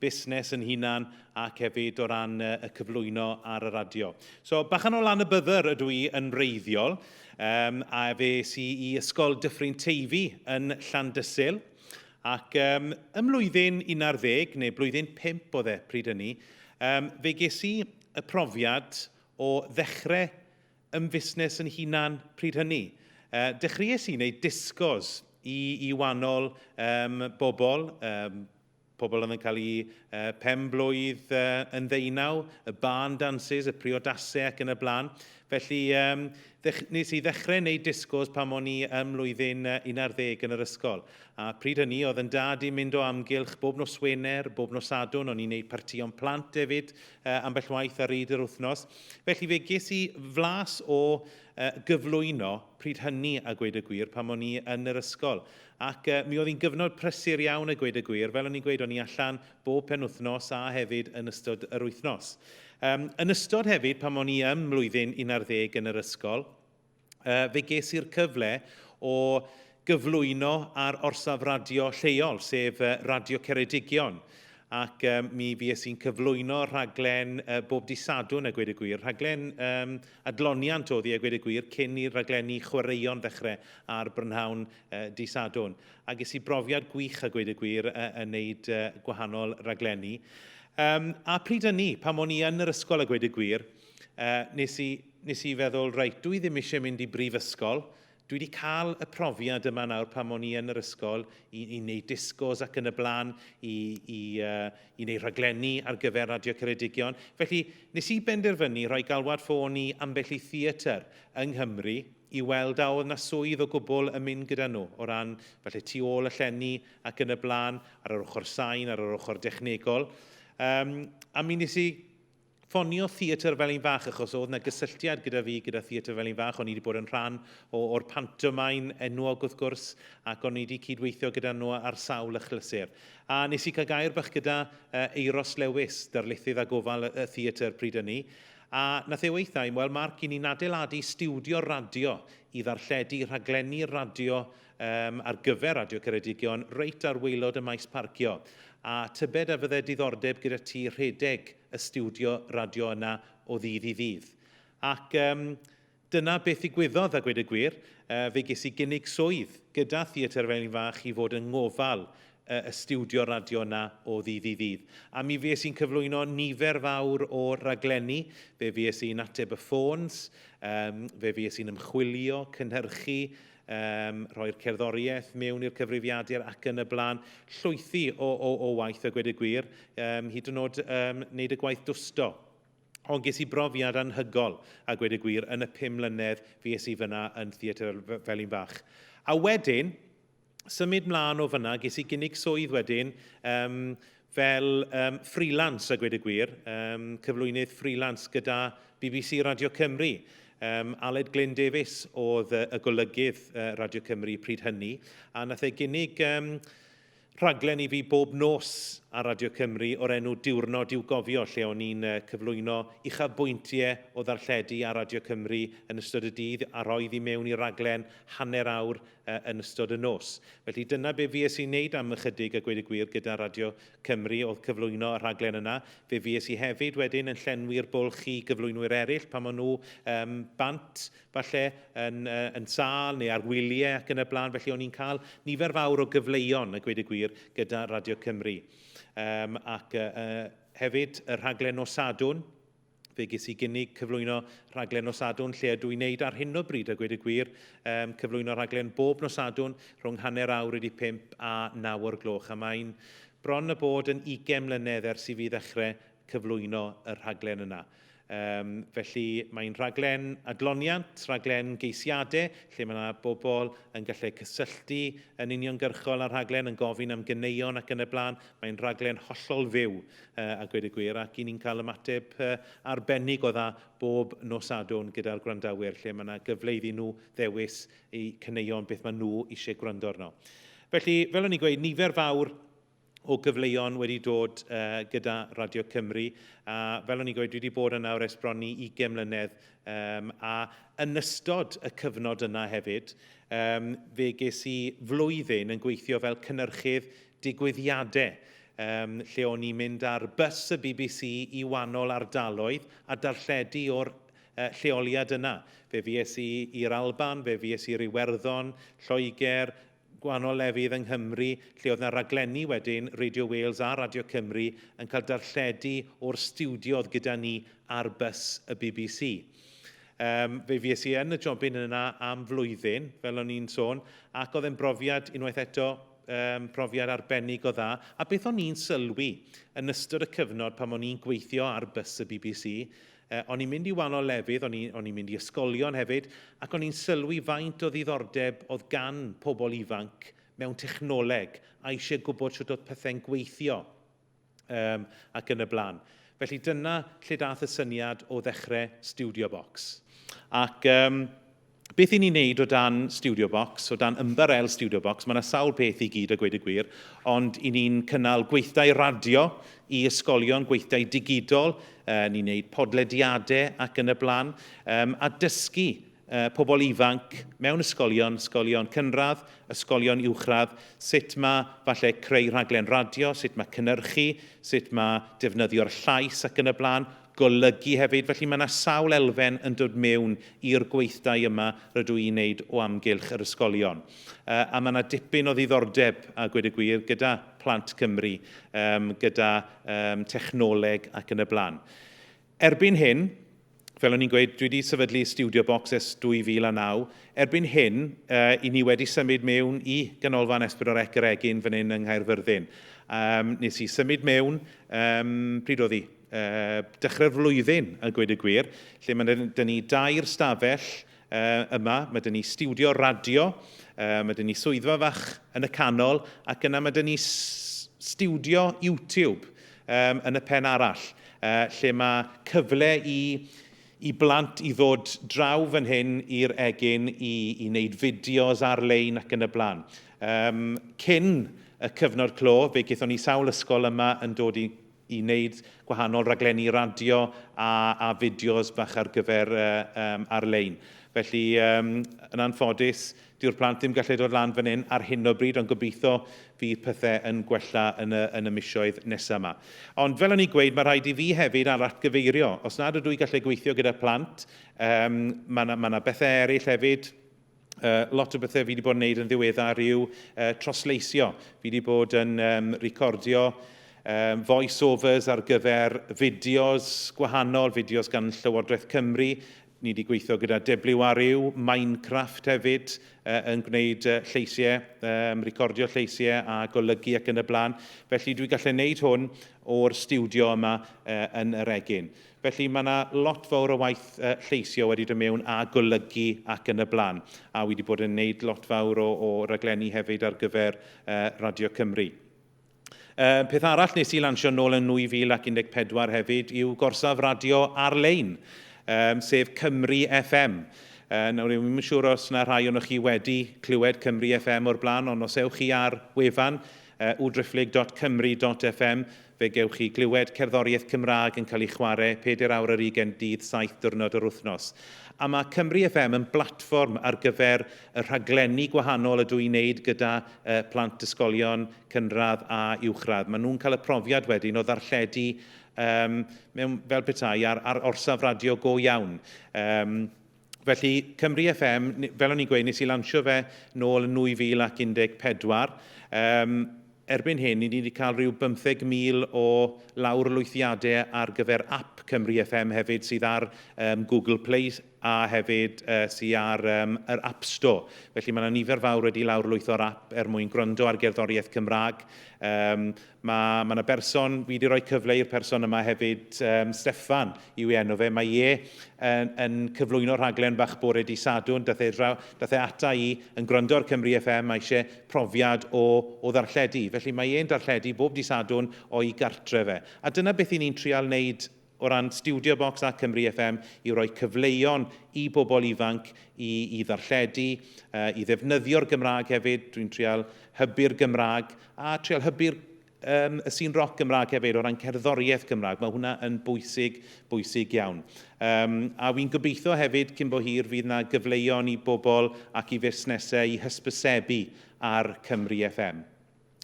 busnes yn hunan ac hefyd o ran yy y cyflwyno ar y radio. So bachan o lan y byddr ydw i yn wreiddiol um, a fe si i Ysgol Dyffryn Teifi yn Llandysul ac um, ym mlwyddyn 11 neu blwyddyn 5 oedd e pryd hynny um, fe ges i y profiad o ddechrau ym fusnes yn hunan pryd hynny. Uh, dechreuais i wneud disgos i, i wahanol um, bobl, um, pobl oedd yn cael eu pen-blwydd yn ddeunaw, y barn dances, y priodasau ac yn y blaen. Felly, um, nes i ddechrau wneud discos pan o'n i ym mlwyddyn 11 yn yr ysgol. A pryd hynny, oedd yn dad i'n mynd o amgylch bob nos Wener, bob nos Sadwn, o'n i'n gwneud partïon plant hefyd uh, ambell waith ar reid yr wythnos. Felly fe ges i flas o uh, gyflwyno pryd hynny a gweud y gwir pan o'n i yn yr ysgol. Ac mi oedd hi'n gyfnod prysur iawn a gweud y gwir, fel o'n i'n gweud, o'n i allan bob penwythnos a hefyd yn ystod yr wythnos. Yym, yn ystod hefyd, pan o'n i ym mlwyddyn 11 yn yr ysgol, yy, fe ges i'r cyfle o gyflwyno ar orsaf radio lleol, sef yy, Radio Ceredigion. Ac yy, mi fues i'n cyflwyno rhaglen yy, bob dydd Sadwrn a gweud y gwir, rhaglen yym, Adloniant oedd hi, a gweud y gwir, cyn i'r rhaglenni chwaraeon ddechrau ar brynhawn dydd Sadwrn. A ges i brofiad gwych, a gweud y gwir, yn wneud gwahanol raglenni. Um, a pryd ynni, pan o'n i yn yr ysgol, a gweud y gwir, uh, nes, i, nes i feddwl, reit, dwi ddim eisiau mynd i brifysgol, Dwi 'di cael y profiad yma nawr pan o'n i yn yr ysgol i, i wneud discos ac yn y blaen, i, i, uh, i wneud rhaglenni ar gyfer Radio Ceredigion. Felly, nes i benderfynu rhoi galwad ffôn i ambell i theatr yng Nghymru i weld a oedd yna swydd o gwbl yn mynd gyda nhw, o ran falle tu ôl y llenni ac yn y blaen, ar yr ochr sain, ar yr ochr dechnegol. Um, a mi nes i ffonio Theatr Felin Fach achos oedd 'na gysylltiad gyda fi gyda Theatr Felin Fach. O'n i wedi bod yn rhan o, o'r pantomain enwog wrth gwrs ac o'n i wedi cydweithio gyda nhw ar sawl achlysur. A nes i cael gair bach gyda uh, Euros Lewis, darlithydd a gofal y, y theatr pryd ynni. A nath e weithau, wel Mark, i ni'n adeiladu stiwdio radio i ddarlledu rhaglenni radio um, ar gyfer Radio Ceredigion reit ar waelod y maes parcio. A tybed a fydde diddordeb gyda ti rhedeg y stiwdio radio yna o ddydd i ddydd. Ac um, dyna beth i gwyddodd a gwed y gwir, uh, fe ges i gynnig swydd gyda Theatr Felin Fach i fod yng ngofal uh, y stiwdio radio yna o ddydd i ddydd. A mi fes i'n cyflwyno nifer fawr o raglenni, fe fes i'n ateb y ffôns, um, fe fes i'n ymchwilio, cynhyrchu, um, rhoi'r cerddoriaeth mewn i'r cyfrifiadur ac yn y blaen. Llwythi o, o, o waith a gwed y gwir, um, hyd yn oed um, wneud y gwaith dwsto. Ond ges i brofiad anhygol a gwed y gwir yn y pum mlynedd fi es i fyna yn theatr fel un fach. A wedyn, symud mlaen o fyna, ges i gynnig swydd wedyn, um, fel um, freelance a gwed y gwir, um, cyflwynydd freelance gyda BBC Radio Cymru. Um, Aled Glyn Davies oedd uh, y golygydd uh, Radio Cymru pryd hynny, a nath e gynnig um, rhaglen i fi bob nos ar Radio Cymru o'r enw Diwrnod i'w gofio, lle o'n i'n uh, cyflwyno uchafbwyntiau o ddarlledu ar Radio Cymru yn ystod y dydd a rhoi i mewn i raglen hanner awr yn ystod y nos. Felly dyna be fues i'n neud am ychydig a gweud y gwir gyda Radio Cymru oedd cyflwyno y rhaglen yna. Fe fues i hefyd wedyn yn llenwi'r bwlch i gyflwynwyr eraill pan maen nhw um, bant falle yn, uh, yn sâl neu ar wyliau ac yn y blaen. Felly o'n i'n cael nifer fawr o gyfleuon a gweud y gwir gyda Radio Cymru. Um, ac uh, hefyd y rhaglen nos Sadwn, fe ges i gynnig cyflwyno rhaglen nos Sadwrn lle ydw i'n neud ar hyn o bryd a gweud y gwir, um, cyflwyno rhaglen bob nos Sadwrn rhwng hanner awr wedi pimp a naw o'r gloch a mae'n bron a bod yn 20 mlynedd ers i fi ddechrau cyflwyno y rhaglen yna. Um, felly mae'n rhaglen adloniant, rhaglen geisiadau, lle mae yna bobl yn gallu cysylltu yn uniongyrchol â'r rhaglen, yn gofyn am gyneuon ac yn y blaen. Mae'n rhaglen hollol fyw, a gweud y gwir, ac i ni'n cael ymateb arbennig o dda bob nos Sadwrn gyda'r gwrandawyr, lle mae yna gyfle iddyn nhw ddewis eu caneuon, beth maen nhw eisiau gwrando arno. Felly, fel o'n i'n gweud, nifer fawr o gyfleuon wedi dod uh, gyda Radio Cymru, a fel o'n i'n gweud, dwi wedi bod yna ers bron i 20 mlynedd, um, a yn ystod y cyfnod yna hefyd, um, fe ges i flwyddyn yn gweithio fel cynnyrchydd digwyddiadau um, lle o'n i'n mynd ar bus y bbc i wannol ardaloedd a darlledu o'r uh, lleoliad yna. Fe fies i i'r Alban, fe fies i Iwerddon, Lloegr, gwahanol lefydd yng Nghymru, lle oedd yna raglenni wedyn Radio Wales a Radio Cymru yn cael darlledu o'r stiwdiodd gyda ni ar bus y bbc. Um, fe fies i yn y jobyn yna am flwyddyn, fel o'n i'n sôn, ac oedd e'n brofiad unwaith eto um, profiad arbennig o dda, a beth o'n i'n sylwi yn ystod y cyfnod pan o'n i'n gweithio ar bus y BBC, uh, o'n i'n mynd i wahanol lefydd, o'n i'n mynd i ysgolion hefyd, ac o'n i'n sylwi faint o ddiddordeb oedd gan pobl ifanc mewn technoleg a eisiau gwybod sut oedd pethau'n gweithio. um, ac yn y blaen. Felly dyna lle dath y syniad o ddechrau Studio Box. Ac um, beth i ni wneud o dan Studio Box, o dan ymbarel Studio Box, mae yna sawl peth i gyd a gweud y gwir, ond i ni'n cynnal gweithdai radio i ysgolion, gweithdai digidol, uh, ni'n gwneud podlediadau ac yn y blaen, um, a dysgu pobl ifanc mewn ysgolion, ysgolion cynradd, ysgolion uwchradd, sut mae falle creu rhaglen radio, sut mae cynnyrchu, sut mae defnyddio'r llais ac yn y blaen, golygu hefyd. Felly mae yna sawl elfen yn dod mewn i'r gweithdai yma rydw i'n wneud o amgylch yr ysgolion. A mae yna dipyn o ddiddordeb, a gwed y gwir, gyda Plant Cymru, gyda technoleg ac yn y blaen. Erbyn hyn, fel o'n i'n gweud, dwi wedi sefydlu Studio Box ers 2009. Erbyn hyn, uh, i ni wedi symud mewn i Ganolfan Esbydor Ec yr Egin fan hyn yng Nghaerfyrddin. Um, nes i symud mewn, um, pryd oedd hi? Uh, dechrau'r flwyddyn, a gweud y gwir, lle mae dyn ni dair stafell Uh, yma, mae dyn ni studio radio, uh, mae dyn ni swyddfa fach yn y canol, ac yna mae dyn ni studio YouTube um, yn y pen arall, uh, lle mae cyfle i, i blant i ddod draw fan hyn i'r egin i, i wneud fideos ar-lein ac yn y blaen. Um, cyn y cyfnod clo, fe gaethon ni sawl ysgol yma yn dod i i wneud gwahanol raglenni radio a, a fideos bach ar gyfer um, ar-lein. Felly, um, yn anffodus, dyw'r plant ddim gallu dod lan fan hyn ar hyn o bryd, ond gobeithio fydd pethau yn gwella yn y, yn y misioedd nesaf yma. Ond fel o'n i'n gweud, mae rhaid i fi hefyd ar atgyfeirio. Os nad ydw i gallu gweithio gyda plant, um, mae yna ma bethau eraill hefyd uh, lot o bethau fi wedi bod yn gwneud yn ddiweddar yw uh, trosleisio. Fi wedi bod yn um, recordio um, voice-overs ar gyfer fideos gwahanol, fideos gan Llywodraeth Cymru. Ni wedi gweithio gyda WRU, Minecraft hefyd, uh, yn gwneud uh, lleisiau, um, recordio lleisiau a golygu ac yn y blaen. Felly dwi gallu gwneud hwn o'r studio yma uh, yn yr egin. Felly, mae yna lot fawr o waith lleisio wedi dod mewn a golygu ac yn y blaen. A wi wedi bod yn gwneud lot fawr o, o raglenni hefyd ar gyfer uh, Radio Cymru. Uh, peth arall nes i lansio nôl yn 2014 hefyd yw gorsaf radio ar-lein, um, sef Cymru FM. Uh, nawr, rwy'n mynd siŵr os yna rhai o'n chi wedi clywed Cymru FM o'r blaen, ond os ewch chi ar wefan uh, udrifflig.cymru.fm, Fe gewch chi glywed cerddoriaeth Cymraeg yn cael ei chwarae pedair awr ar ugain dydd saith diwrnod yr wythnos. A mae Cymru FM yn blatfform ar gyfer y rhaglenni gwahanol ydw i'n wneud gyda plant ysgolion cynradd a uwchradd. Maen nhw'n cael y profiad wedyn o ddarlledu mewn, fel petai, ar orsaf radio go iawn. Felly, Cymru FM, fel o'n i'n gweud, nes i lansio fe nôl yn 2014. Um, erbyn hyn, ni wedi cael rhyw 15,000 o lawr lwythiadau ar gyfer app Cymru FM hefyd sydd ar um, Google Play a hefyd uh, sydd ar um, yr App Store. Felly mae yna nifer fawr wedi lawr lwytho'r app er mwyn gwrando ar gerddoriaeth Cymraeg. Um, Mae, mae 'na berson, fi 'di rhoi cyfle i'r person yma hefyd, um, Steffan yw ei enw fe, mae e yn, yn cyflwyno rhaglen fach bore di Sadwrn, dath e, draw, dath e ata i yn gwrando ar Cymru FM, mae eisiau profiad o, o ddarlledu. Felly mae e'n darlledu bob di Sadwrn o'i gartre fe. A dyna beth i ni'n trial wneud o ran Studio Box a Cymru FM yw rhoi cyfleon i bobl ifanc i i ddarlledu, i ddefnyddio'r Gymraeg hefyd, dwi'n trial hybu'r Gymraeg a trial hybu'r um, y sîn roc Gymraeg hefyd o ran cerddoriaeth Gymraeg. Mae hwnna yn bwysig, bwysig iawn. Um, a fi'n gobeithio hefyd cyn bo hir fydd yna gyfleon i bobl ac i fusnesau i hysbysebu ar Cymru FM.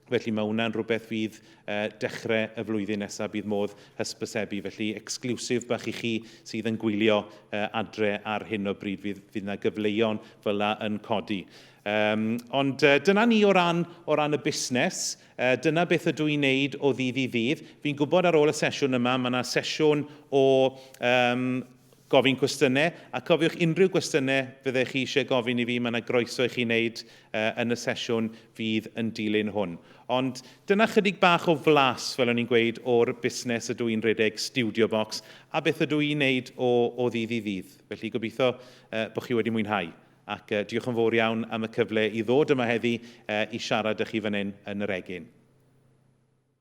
Felly mae hwnna'n rhywbeth fydd uh, dechrau y flwyddyn nesaf bydd modd hysbysebu. Felly exclusive bach i chi sydd yn gwylio uh, adre ar hyn o bryd fydd, fydd yna gyfleuon fel yn codi. Um, ond uh, dyna ni o ran, o ran y busnes, uh, dyna beth ydw i'n neud o ddydd i ddydd. Fi'n gwybod ar ôl y sesiwn yma, mae yna sesiwn o um, gofyn cwestiynau, a cofiwch unrhyw gwestiynau fyddech chi eisiau gofyn i fi, mae yna groeso i chi wneud yn y sesiwn fydd yn dilyn hwn. Ond dyna chydig bach o flas, fel o'n i'n gweud, o'r busnes ydw i'n rhedeg, Studio Box, a beth ydw i'n wneud o o ddydd i ddydd. Felly gobeithio bod chi wedi mwynhau, ac diolch yn fawr iawn am y cyfle i ddod yma heddi i siarad â chi fan hyn yn yr egin.